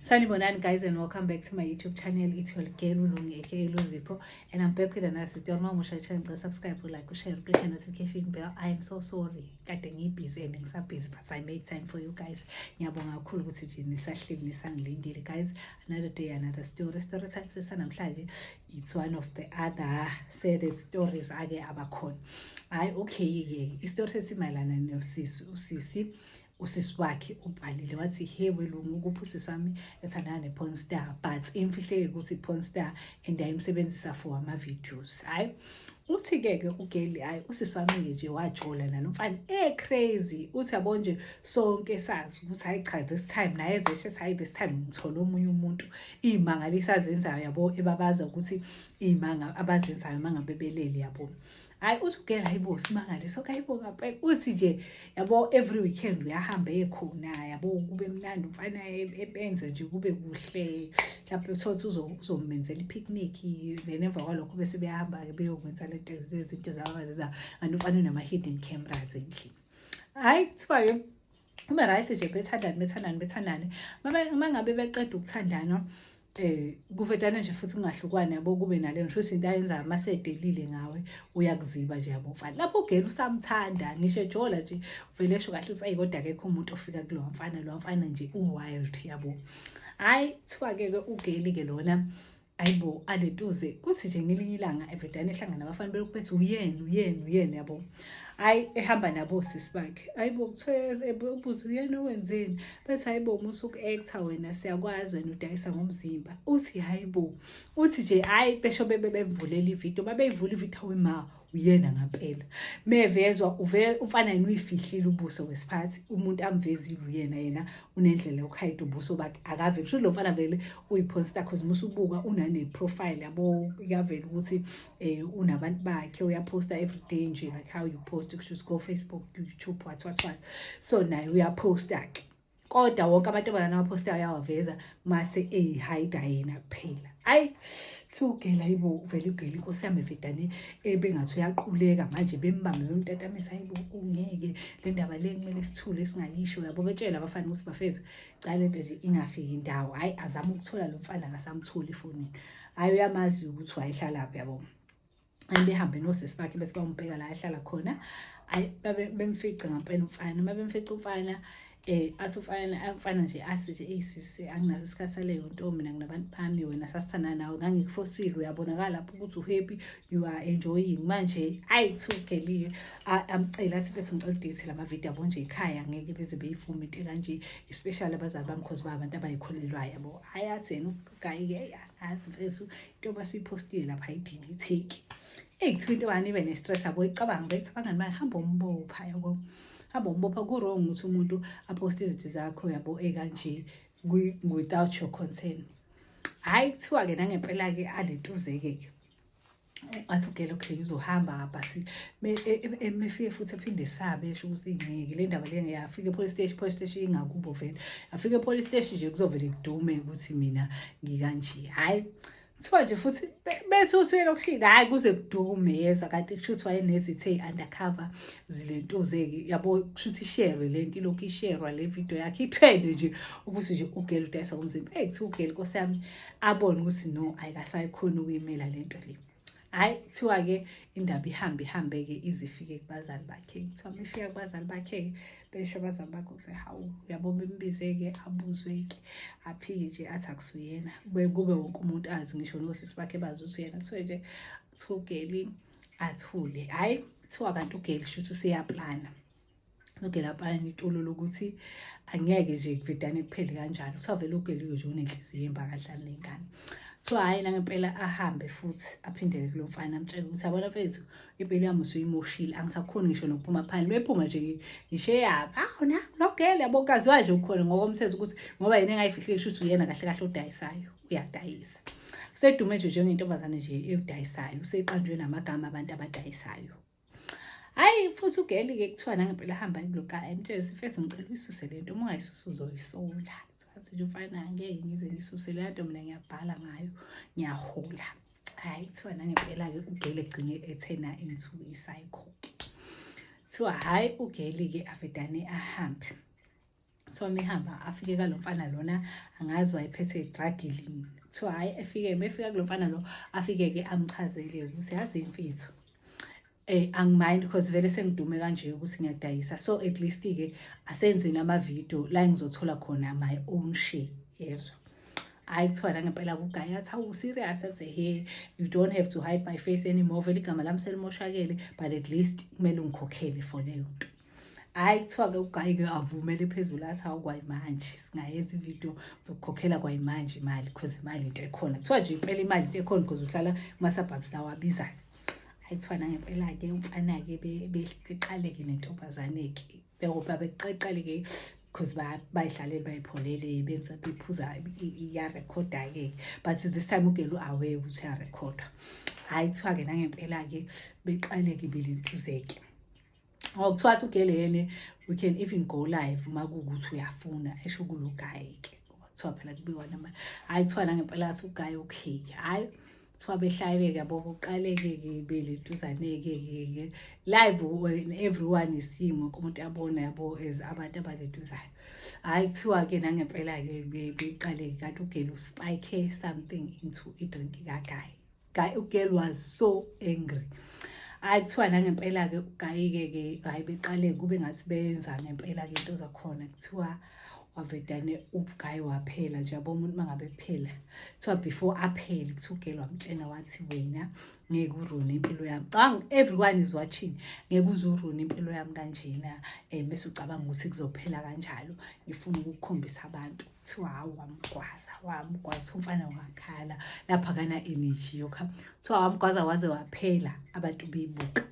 Sanibonani guys and welcome back to my YouTube channel. It's your girl Ulungeke Eluzipho and I'm back with another video. Uma musha channel ngicela subscribe, like, share, click the notification bell. I am so sorry. Kade ngibusy and ngisa busy but I made time for you guys. Ngiyabonga kakhulu ukuthi nje nisahleli nisangilindile guys. Another day another story. Story salisisa namhlanje. It's one of the other sad stories ake abakhona. Hayi okay ke. Istory sesimayelana nosisi usisi. usisi wakhe ubhalile wathi he welungu ukuphi usisi wami ethandana ne-porn star but imfihleke ukuthi i-porn star and ayimsebenzisa for ama-videos hhayi uthi-ke ke ugeli hhayi usisi wami-ke nje wajola nalo mfana e-crazy uthi yabo nje sonke sazi ukuthi hhayi cha this time naye ezeshe ethi hhayi this time ngithole omunye umuntu iy'mangaliso azenzayo yabo ebabaza ukuthi iy'manga abazenzayo uma ngabe belele yabo hayi uthi ugela hayibo simangaliso kayibo ngampela uthi nje yabo every weekend uyahamba ekhona yabo kube mnandi umfana epenze nje kube kuhle mhlawumbe uthotha uzomenzela i-picnic then emva kwalokho bese beyahamba-ke beyokwenza lezinto zababaziza and umfana unama-hidden cameras endlini hhayi kuthiwa-ke ube right nje bethandane bethandane bethandane uma ngabe beqeda ukuthandana eh kuvetana nje futhi kungahlukwana yabo kube nale ngisho ukuthi into ayenza masedelile ngawe uyakuziba nje yabo mfana lapho ugela usamthanda ngisho ejola nje uvele esho kahle ukuthi ayi kodwa akekho umuntu ofika kulo mfana lo mfana nje u-wild yabo hhayi kuthiwa-ke ke ugeli-ke lona ayibo alentoze kuthi nje ngelinye ilanga evedane ehlangana nabafana belokhu bethi uyena uyena uyena yabo hayi ehamba nabo sisi bakhe ayibo kuthiwe ubuze uyena owenzeni bethi hayibo musa uku-actor wena siyakwazi wena udayisa ngomzimba uthi hayibo uthi nje hhayi besho bebe bemvulela ividiyo babeyivula ividiyo awe ma uyena ngampela mevezwa umfana yena uyifihlile ubuso wesiphathi umuntu amvezile uyena yena unendlela yokuhayida ubuso bakhe akave kusho lo mfana vele uyiphonsta cause musa ubuka unane-profile yabo ikavele ukuthi um unabantu bakhe uyaphosta everyday nje like how you post kusho ukuthi go facebook youtube what what what so naye uyaphosta-ke kodwa wonke amantombazane awaphostayo ayawaveza mase eyihayida yena kuphela ayi thiwugela yibo vele ugela inkosi yami evedane ebengathi uyaquleka manje bembambe bemtatamisa yibo ungeke le ndaba le kumele sithule singayisho yabo betshela abafana ukuthi bafethu cala lento nje ingafiki indawo hhayi azame ukuthola lo mfana akasamtholi efonini hhayi uyamazi ukuthi wayehlala phi yabo and behambe nosisi bakhe bese bayombheka la ahlala khona bemfice ngampela umfana uma bemfica umfana eh athi umfana umfana nje athi nje eyi sisi anginazo isikhathi saleyo nto mina nginabantu bami wena sasithanda nawe ngangikufosile uyabonakala lapho ukuthi uhappy you are enjoying manje ayi thugelile amcela athi bese ngicela udate lama video abo nje ekhaya ngeke beze beyivume into kanje especially abazali bami because ba abantu abayikholelwayo yabo hayi athi yena gayi-ke azi mfethu into basuyiphostile lapha idini itheki eyi kuthiwa into wani ibe ne-stress abo icabanga bethi abangani bayo hamba umbopha yabo hamba umbopha ku-wrong ukuthi umuntu aphoste izinto zakho yabo ekanje without your concern hhayi kuthiwa-ke nangempela-ke alentuze-ke-ke athi ugele okay uzohamba ngabhasi mefike futhi ephinde esabe esho ukuthi ngeke le ndaba le ngiyafika epolice station police station ingakubo vele afika epolice station nje kuzovele kudume ukuthi mina ngikanje hhayi kuthiwa nje futhi bethi usuyela okushini hhayi kuze kudume yezwa kanti kusho ukuthi wayenezithe i-undercover zilentuzeke yabo kusho ukuthi isherwe le nto ilokhu isherwa le video yakhe ithende nje ukuthi nje ugele udayisa komzimba eyi kuthiwa ugele nkosi yami abone ukuthi no ayikasayikhona ukuyimela le nto le hhayi kuthiwa-ke indaba ihambe ihambe-ke ize ifike kubazali bakhe kuthiwa uma ifika kubazali bakhe-ke besho abazali bakhe ukuthi hawu uyabo bembize-ke abuzwe-ke aphike nje athi akusuyena kube wonke umuntu azi ngisho nosisi bakhe bazi ukuthi uyena kuthiwe nje kuthiwa ugeli athule hhayi kuthiwa kanti ugeli shuthi useyaplana logela apalani itolo lokuthi angeke nje kuvedane kuphele kanjalo kuthiwa vele ugela uyoje unenhliziyo yembakadlali nengane so hhayi nangempela ahambe futhi aphindele kulo mfana amtshele ukuthi abona mfethu impilo yami usuyimoshile angisakhoni ngisho nokuphuma phandle bephuma nje ngisho eyapha awu na logela yabo kaziwa nje ukhona ngokomthetho ukuthi ngoba yena engayifihlile shuthi uyena kahle kahle odayisayo uyadayisa usedume nje njengentombazane nje eyodayisayo useqanjwe namagama abantu abadayisayo hayi futhi ugeli-ke kuthiwa nangempela hamba kuloka emtshele sifese ngicela uyisuse le nto uma ungayisusa uzoyisola sathi nje ufana ngeke ngize ngisuse le nto mina ngiyabhala ngayo ngiyahola hayi kuthiwa nangempela-ke ugeli egcine ethena into isayikhokhe kuthiwa hhayi ugeli-ke avedane ahambe kuthiwa mehamba afike kalo mfana lona angazi wayephethe idragilini kuthiwa hhayi efike mefika kulo mfana lo afike-ke amchazele ukuthi yazi imfitho eh angimind because vele sengidume kanje ukuthi ngiyadayisa so at least ke asenzeni ama video la ngizothola khona my own share yezwa hayi kuthiwa la ngempela kugaya athi awu serious athi he you don't have to hide my face anymore vele igama lami selimoshakele but at least kumele ungikhokhele for leyo nto hhayi kuthiwa-ke ugayi-ke avumele phezulu athi hawu kwayimanje singayenza ividiyo zokukhokhela kwayimanje imali because imali into ekhona kuthiwa nje impela imali into ekhona because uhlala kumasabhabs lawo abizayo hhayi kuthiwa nangempela-ke umfana-ke beqaleke nentombazane-ke njengoba beqeqaleke because bayidlalele bayipholele benza bephuza iyarekhoda-ke but this time ugele u-away ukuthi uyarekhoda hhayi kuthiwa-ke nangempela-ke beqaleke belentuzeke ngokuthiwa athi ugele yene we can even go live uma kuwukuthi uyafuna esho kulo guy ke ngoba kuthiwa phela kubiwa nama hhayi kuthiwa nangempela athi uguy okay hhayi kuthiwa behlaleke yabo kuqaleke-ke beleduzaneke-ke live when everyone is seeing wonke umuntu abona yabo as abantu abaleduzayo hhayi kuthiwa-ke nangempela-ke beqaleke kanti ugele uspike something into idrink kagayi guy ugirl was so angry hayi kuthiwa nangempela-ke ugayike-ke hhayi beqale kube ngathi beyenza ngempela-ke into zakhona kuthiwa wavedane ugayi waphela nje yabo umuntu uma ngabe phela kuthiwa before aphele kuthi ugele wamtshena wathi wena ngeke urune impilo yami cabanga everyone is watching ngeke uze urune impilo yami kanjena um bese ucabanga ukuthi kuzophela kanjalo ngifuna ukukhombisa abantu kuthiwa hawu wamgwaza wamgwaza umfana wakhala lapha kana energy yokha kuthiwa wamgwaza waze waphela abantu beyibuka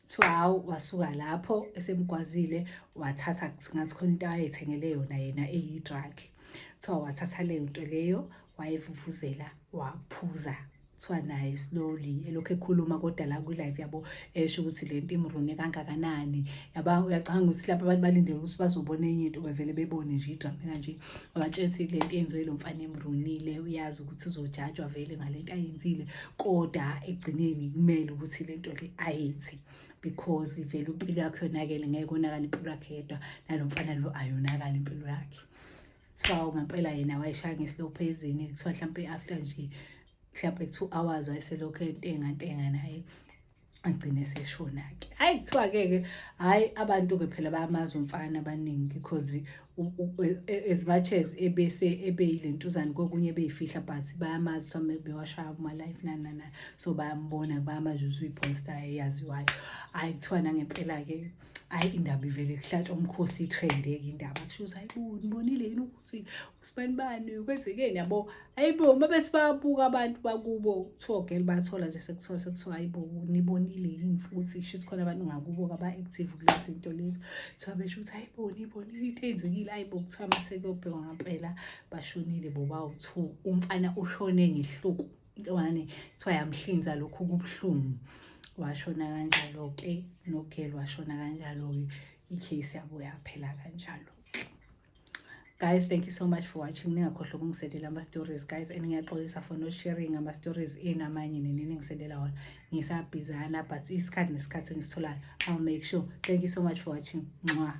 kuthiwa hawu wasuka lapho esemgwazile wathatha ngathi khona into ayethengele yona yena eyi-drug kuthiwa wathatha leyo nto leyo wayevuvuzela waphuza kuthiwa naye slowly elokhu ekhuluma kodwa la kwi-live yabo esho ukuthi le nto imrune kangakanani yaba uyacanga ukuthi lapho abantu balindele ukuthi bazobona enye into bevele bebone nje idrama kanje wabatshela ukuthi le nto yenziwe lo mfana emrunile uyazi ukuthi uzojajwa vele ngale nto ayenzile kodwa ekugcineni kumele ukuthi le nto le ayenzi because vele impilo yakhe yonakele ngeke onakala impilo yakhe yedwa nalo mfana lo ayonakala impilo yakhe kuthiwa ngampela yena wayeshaya nge-slow phezini kuthiwa mhlawumpe after nje mhlawumpe two hours wayeselokhu entengantenga naye agcine seshona-ke hhayi kuthiwa-ke-ke hhayi abantu-ke phela bayamazi umfana abaningi because as much as ebese ebeyile ntuzane kokunye ebeyifihla but bayamazi kuthiwa bewashaya kuma-life nanana so bayambona bayamazi usuyiposta eyaziwayo hhayi kuthiwa nangempela-ke hayi indaba ivele kuhlatshwa umkhosi itrendeke indaba kusho ukuthi hayi bo nibonile yini ukuthi usibani bani kwenzekeni yabo hayi bo uma bethi bayabuka abantu bakubo kuthiwa ogel bathola nje sekuthiwa sekuthiwa hayi bo nibonile yini futhi kusho ukuthi khona abantu ngakubo kaba-active kulezi zinto lezi kuthiwa besho ukuthi hayi bo nibonile into eyenzekile hayi bo kuthiwa masekuyobhekwa ngampela bashonile bo bawu-two umfana ushone ngehluku intombazane kuthiwa yamhlinza lokhu kubuhlungu washona kanjalo-ke nogel washona kanjalo-ke i-case yabo yaphela kanjalo guys thank you so much for watching ningakhohlwa ukungisendela ama-stories guys and ngiyaxolisa for not sharing ama-stories eni amanye nini ningisendela wona ngisabhizana but isikhathi nesikhathi engisitholayo i'll make sure thank you so much for watching nxwa